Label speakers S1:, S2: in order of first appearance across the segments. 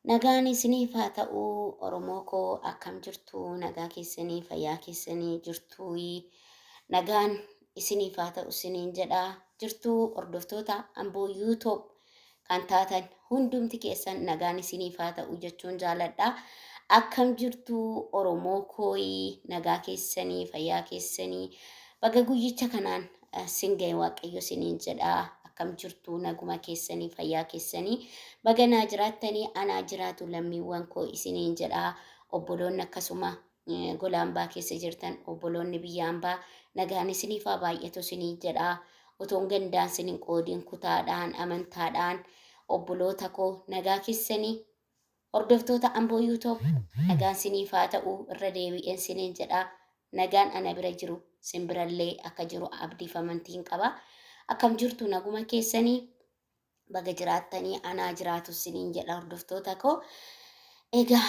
S1: Nagaan isiniif haa ta'u Oromoo koo akkam jirtu nagaa keessanii fayyaa keessanii jirtuu nagaan isiniif haa ta'u isiniin jedha jirtuu hordoftoota amboo yuutoob kan taatan hundumti keessan nagaan isiniif haa ta'u jechuun jaaladha akkam jirtu Oromoo koo nagaa keessanii fayyaa keessanii baga guyyicha kanaan sin ga'e waaqayyo siniin jedha akkam jirtu naguma keessanii fayyaa keessanii baga naa jiraattanii anaa jiraatu lammiiwwan koo isiniin jedha obboloonni akkasuma eh, gola ambaa keessa jirtan obboloonni biyya ambaa nagaan isiniif haa baay'atu isiniin jedha otoon gandaan sinin qoodiin kutaadhaan amantaadhaan obboloota koo nagaa keessanii Hordoftoota Amboo You Tob nagaan siniif haa ta'u irra deebi'een siniin jedha nagaan ana bira jiru sin birallee akka jiru abdiif amantiin qaba akkam jirtu naguma keessanii baga jiraattanii anaa jiraatu siniin jedha hordoftoota koo egaa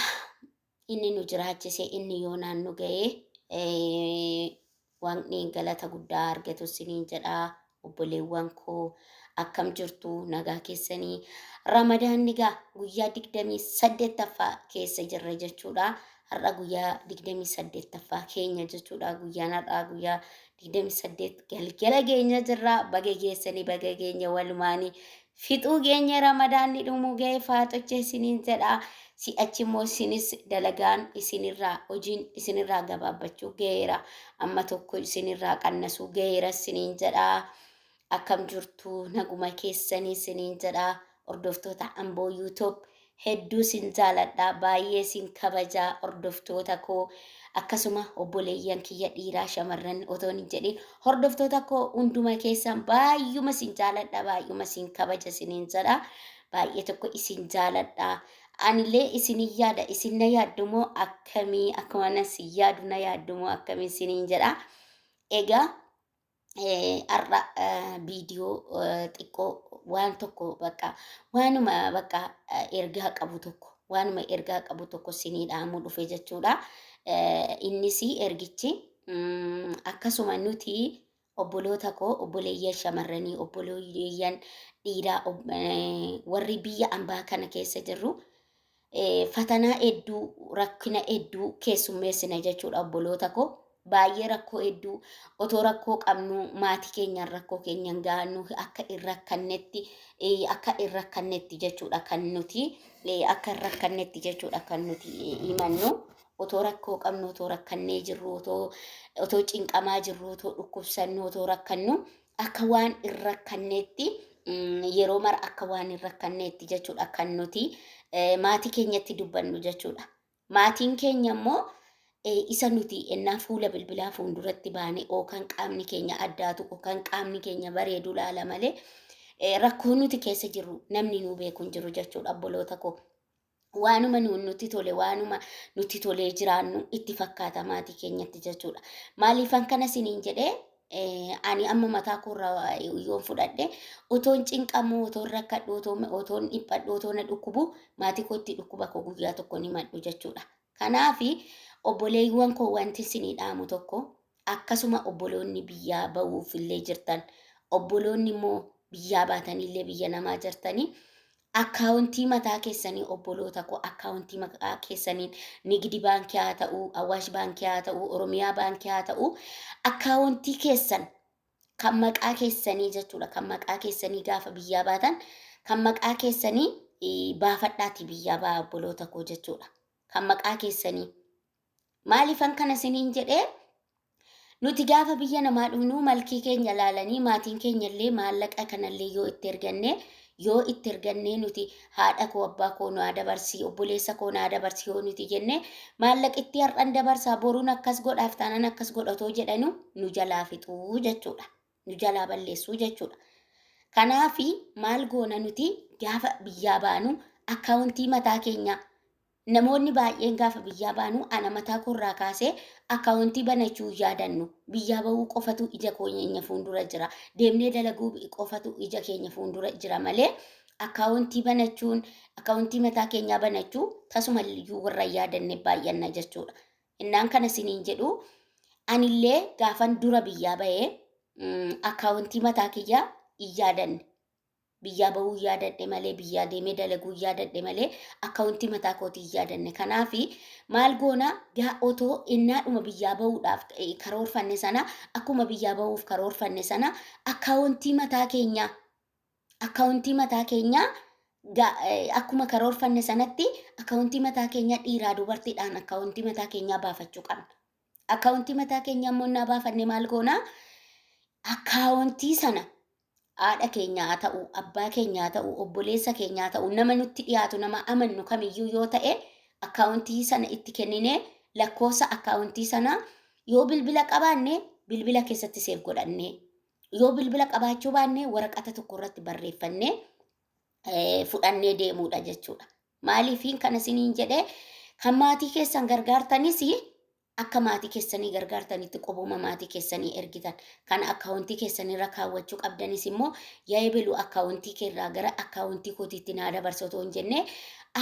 S1: inni nu jiraachise inni yoonaan nu ga'ee Waaqni galata guddaa haa argatu isiniin jedha obboleewwan koo akkam jirtu nagaa keessanii ramadaanni gaa guyyaa digdamii saddeettaffaa keessa jirra jechuudha har'a guyyaa digdamii saddeettaffaa keenya jechuudha guyyaan har'aa guyyaa digdamii saddeet galgala keenya jirra baga geessanii baga keenya walumaanii Fixuu geenye ramadaanni dhumuu ga'e faaxochee isiniin jedha si'achi immoo isinis dalagaan isinirraa hojiin isinirraa gabaabbachuu ga'eera amma tokko isinirraa qannasuu ga'eera isiniin jedha akkam jirtu naguma keessanii isiniin jedha hordoftoota amboo yuutuub Hedduu sin jaaladha baay'ee sin kabaja hordoftoota koo akkasuma obboleeyyan kiyya dhiiraa shamarran otoon hin jedhin hordoftoota koo hunduma keessan baay'uma sin jaaladha baay'uma sin kabaja sinin jedha baay'ee tokko isin jaaladha anillee isin yaada isin na yaaddumoo akkamii akkuma na si yaadu na yaaddumoo akkamiin sinin jedha egaa eh, har'a eh, viidiyoo eh, xiqqoo waan tokko bakka waanuma bakka eh, ergaa qabu tokko waanuma ergaa qabu tokko sinii dhaamuu dhufe jechuudha. Eh, Innis ergichi mm, akkasuma nuti obboloota koo obboleeyyan shamarranii obboleeyyan dhiiraa ob- eh, warri biyya ambaa kana keessa jirru fatanaa hedduu rakkina hedduu keessummeessina jechuudha obboloota koo baay'ee rakkoo hedduu otoo rakkoo qabnuu maatii keenyaan rakkoo keenyaan gahannu akka hin rakkannetti akka hin rakkannetti jechuudha kan nuti akka hin rakkannetti jechuudha kan nuti himannu otoo rakkoo qabnu otoo rakkannee jirru otoo otoo cinqamaa jirru otoo dhukkubsannu otoo rakkannu akka waan hin rakkanneetti mm, yeroo mara akka waan hin rakkanneetti jechuudha kan nuti eh, maatii keenyatti dubbannu jechuudha. Maatiin keenya immoo eh, isa nuti ennaa fuula bilbilaa fuulduratti baane oo kan qaamni keenya addaatu oo kan qaamni keenya bareedu laala malee eh, rakkoo nuti keessa jirru namni nuu beeku hin jiru jechuudha obboloota koo. waanuma nu- nutti tole waanuma nutti tolee jiraannu itti fakkaata maatii keenyatti jechuudha. Maaliifan kana siniin jedhee eh, ani amma mataa koorra yoon fudhadhe otoon cinqamu otoon rakkadhu otoon otoon dhiphadhu otoon na dhukkubu maatii kootti dhukkuba koo guyyaa tokko ni madhu jechuudha. Kanaafi obboleewwan koo wanti sinii dhaamu tokko akkasuma obboloonni biyyaa ba'uuf illee jirtan obboloonni immoo biyyaa baatanillee biyya namaa jirtanii Akkaawontii mataa keessanii obboloota koo akkaawontii maqaa keessaniin nigidi baankii haa ta'uu awaash baankii haa ta'uu oromiyaa baankii haa ta'uu akkaawontii keessan kan maqaa keessanii jechuudha kan maqaa keessanii gaafa biyyaa baatan kan maqaa keessanii eh, baafadhaati biyyaa baa obboloota koo jechuudha kan maqaa keessanii maaliifan kana isiniin jedhee Nuti gaafa biyya namaa dhufnu malkii keenya laalanii maatiin keenya illee maallaqa kanallee yoo itti erganne yoo itti ergannee nuti haadha koo abbaa koo naa dabarsii obboleessa koo naa dabarsii yoo nuti jenne maallaqittii har'an dabarsaa boruun akkas godhaaf taanaan akkas godhatoo jedhanu nu jalaa fixuu jechuudha. Nu jalaa balleessuu jechuudha. Kanaafi maal goona nuti gaafa biyyaa baanu akkaawuntii mataa keenyaa Namoonni baay'een gaafa biyyaa baanu ana mataa koo irraa kaasee akkaawontii banachuu hin yaadannu. Biyyaa ba'uu qofatu ija koonyeenya fuundura jira. Deemnee dalaguu qofatu ija keenya fuundura jira malee akkaawontii banachuun, akkaawontii mataa keenyaa banachuu tasuma iyyuu warra hin yaadanne baay'anna jechuu dha. Innaan kana isiniin jedhu ani illee gaafan dura biyyaa ba'e mm, akkaawontii mataa kiyyaa hin yaadanne. biyyaa bahuu hin yaadadhe malee biyyaa deemee dalaguu hin yaadadhe malee akkawuntii mataa kootii hin yaadanne kanaafi maal goona gaa otoo innaadhuma biyyaa bahuudhaaf eh, karoorfanne sana akkuma biyyaa bahuuf karoorfanne sana akkawuntii mataa keenyaa akkawuntii mataa keenyaa ga- eh, akkuma karoorfanne sanatti akkawuntii mataa keenyaa dhiiraa dubartiidhaan akkawuntii mataa keenyaa baafachuu qabna. Akkawuntii mataa keenyaa immoo innaa baafanne maal goona? Akkawuntii sana haadha keenya haa ta'u, abbaa keenya haa ta'u, obboleessa keenya haa ta'u, nama nutti dhiyaatu, nama amannu kamiyyuu yoo ta'e akkaawuntii sana itti kenninee lakkoofsa akkaawuntii sanaa yoo bilbila qabaanne bilbila keessatti seef godhannee yoo bilbila qabaachuu baanne waraqata tokko irratti barreeffannee eh, fudhannee deemuudha jechuudha. Maaliifiin kana isiniin jedhee kan maatii keessan gargaartanis Akka maatii keessanii gargaartanitti qubuma maatii keessanii ergitan kan akkaawuntii keessanirra kaawwachuu qabdanis immoo yaa ebelu akkaawuntii keerraa gara akkaawuntii kootiitti naa dabarsi otoo hin jenne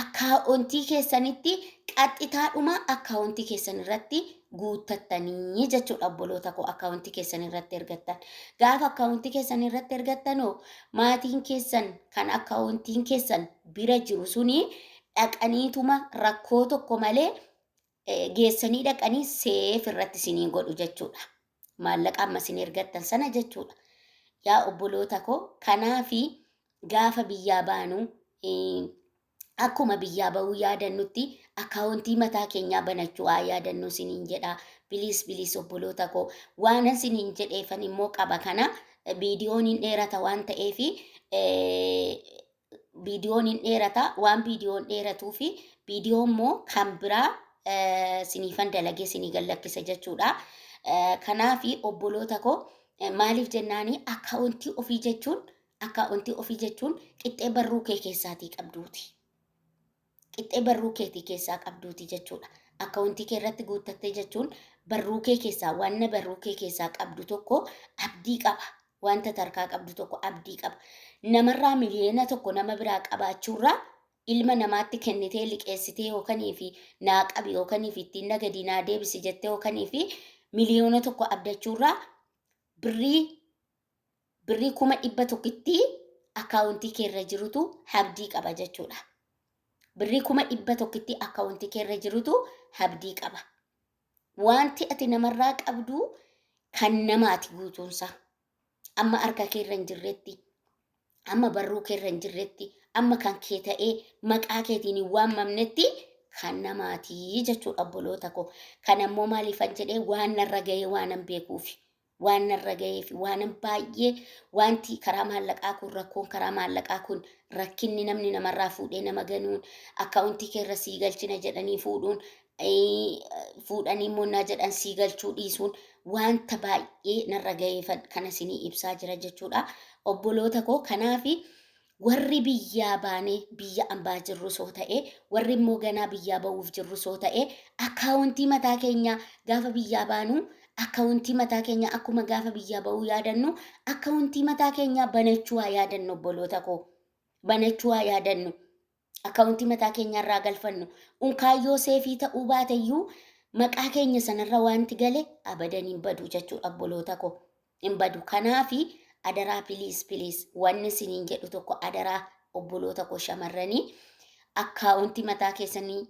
S1: akkaawuntii keessanitti qaxxitaadhuma akkaawuntii keessanirratti guuttattanii jechuudha obboloota koo akkaawuntii keessanirratti ergattan. Gaafa akkaawuntii keessanirratti ergattanoo maatiin keessan kan akkaawuntiin keessan bira jiru suni dhaqaniituma rakkoo tokko malee geessanii dhaqanii seef irratti isinii godhu jechuudha. Maallaqa amma isin ergattan sana jechuudha. Yaa obboloota koo kanaafi gaafa biyyaa baanu akkuma biyyaa ba'uu yaadannutti akaawuntii mataa keenyaa banachuu haa yaadannuu isiniin jedha. Biliis biliis obboloota koo waanan isiniin jedheefan immoo qaba kana viidiyoon hin dheerata waan ta'eefi viidiyoon hin dheerata waan viidiyoon dheeratuu fi viidiyoo immoo kan biraa eh, siniifan dalagee sinii gallakkisa jechuudha. Eh, Kanaafi obboloota koo eh, maaliif jennaani akkaawuntii ofii jechuun akkaawuntii ofii jechuun qixxee barruu kee keessaatii qabduuti. qixxee barruu keetii keessaa qabduuti jechuudha. Akkawuntii kee irratti guuttattee jechuun barruu kee keessaa wanna barruu kee keessaa qabdu tokko abdii qaba. Wanta tarkaa qabdu tokko abdii qaba. Namarraa miliyoona tokko nama biraa qabaachuurraa ilma namaatti kennitee liqeessitee yookanii fi naa qabi yookanii fi ittiin na gadii naa deebisi jettee yookanii fi miliyoona tokko abdachuurraa birrii birrii kuma dhibba tokkitti akkaawuntii kee irra jirutu habdii qaba jechuudha. Birrii kuma dhibba tokkitti akkaawuntii kee irra jirutu habdii qaba. Wanti ati namarraa qabdu kan namaati guutuunsaa. Amma harka kee irra hin jirretti, amma barruu kee irra hin jirretti, amma kan kee ta'ee maqaa keetiin hin waamamnetti kan namaatii jechuudha obboloota koo. Kan ammoo maaliifan jedhee waan narra ga'ee waanan beekuufi. waan narra ga'ee fi waanan baay'ee wanti karaa maallaqaa kun rakkoon karaa maallaqaa kun rakkinni namni namarraa fuudhee nama ganuun akkaawuntii keerra sii galchina jedhanii fuudhuun fuudhanii immoo naa jedhan sii galchuu dhiisuun wanta baay'ee narra ga'eefan kana sinii ibsaa jira jechuudha obboloota koo kanaafi Warri biyyaa baanee biyya ambaa jirrus yoo ta'e, warri immoo ganaa biyyaa ba'uuf jirrus yoo ta'e, akkaawuntii mataa keenyaa gaafa biyyaa baanu akkawuntii mataa keenyaa akkuma gaafa biyyaa ba'uu yaadannu akkawuntii mataa keenyaa banachuu haa yaadannu obboloota koo. Banachuu haa yaadannu. akkaawuntii mataa keenyaarraa galfannu. Unkaan yoo seefii ta'uu baate iyyuu maqaa keenya sanarra wanti gale abadan hin badu jechuudha obboloota koo. Hin badu. Kanaafi adaraa piliis piliis wanni isiniin jedhu tokko adaraa obboloota koo shamarranii akkaawuntii mataa keessanii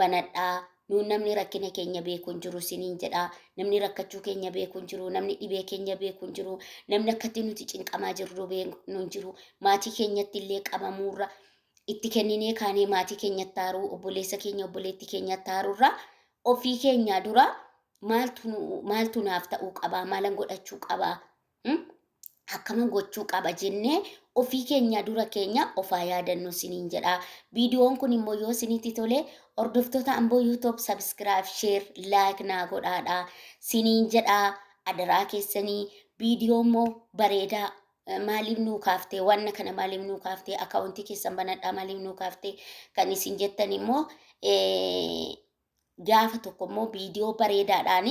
S1: banadhaa nuun namni rakkina keenya beeku hin jiru isiniin jedha namni rakkachuu keenya beeku hin jiru namni dhibee keenya beeku hin jiru namni akkatti nuti cinqamaa jirru beeknu hin jiru maatii keenyatti illee qabamuurra itti kenninee kaanee maatii keenyatti haaruu obboleessa keenya obboleetti keenyatti haaruurra ofii keenyaa dura maaltu nu- maaltu naaf ta'uu qabaa maalan godhachuu qabaa Hmm? akkaman gochuu qaba jennee ofii keenya dura keenya ofaa yaadannu siniin jedha. Viidiyoon kun immoo yoo sinitti tole hordoftoota amboo yuutuub sabskiraayib sheer laayik naa godhaadha siniin jedha adaraa keessanii viidiyoo immoo bareedaa eh, maaliif nuu kaaftee wanna kana maaliif nuu kaaftee akaawuntii keessan banadhaa maaliif nuu kaaftee kan isin jettan immoo eh, gaafa tokko immoo viidiyoo bareedaadhaan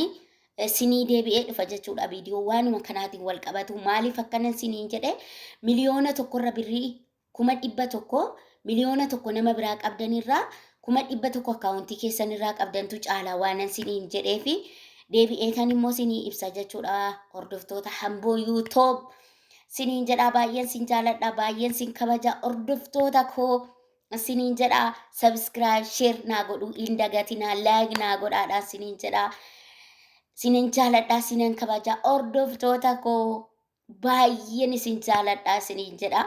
S1: sinii deebi'ee dhufa jechuudha. Viidiyoo waanuma kanaatiin wal qabatu maaliif akkanan siniin jedhe miliyoona tokkorra birrii kuma dhibba tokko miliyoona tokko nama biraa qabdanirraa kuma dhibba tokko akkaawuntii keessanirraa qabdantu caalaa waanan siniin jedhee fi deebi'ee kan immoo sinii ibsa jechuudha. Hordoftoota hamboo yuutoob siniin jedhaa baay'een sin jaaladha baay'een sin kabaja hordoftoota koo sinin jedha subscribe share naa godhu hin dagatina like naa godhaadha sinin jedha sinin jaaladha sinan kabaja hordoftoota koo baay'een isin jaaladha sinin jedha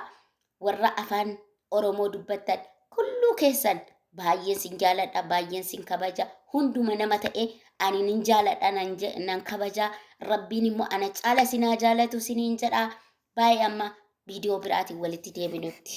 S1: warra afaan oromoo dubbattan kulluu keessan baay'een sin jaaladha baay'een sin kabaja hunduma nama ta'e ani nin jaaladha nan je- nan kabaja rabbiin immoo ana caala sinaa jaalatu sinin jedha baay'ee amma viidiyoo biraatiin walitti deebinutti.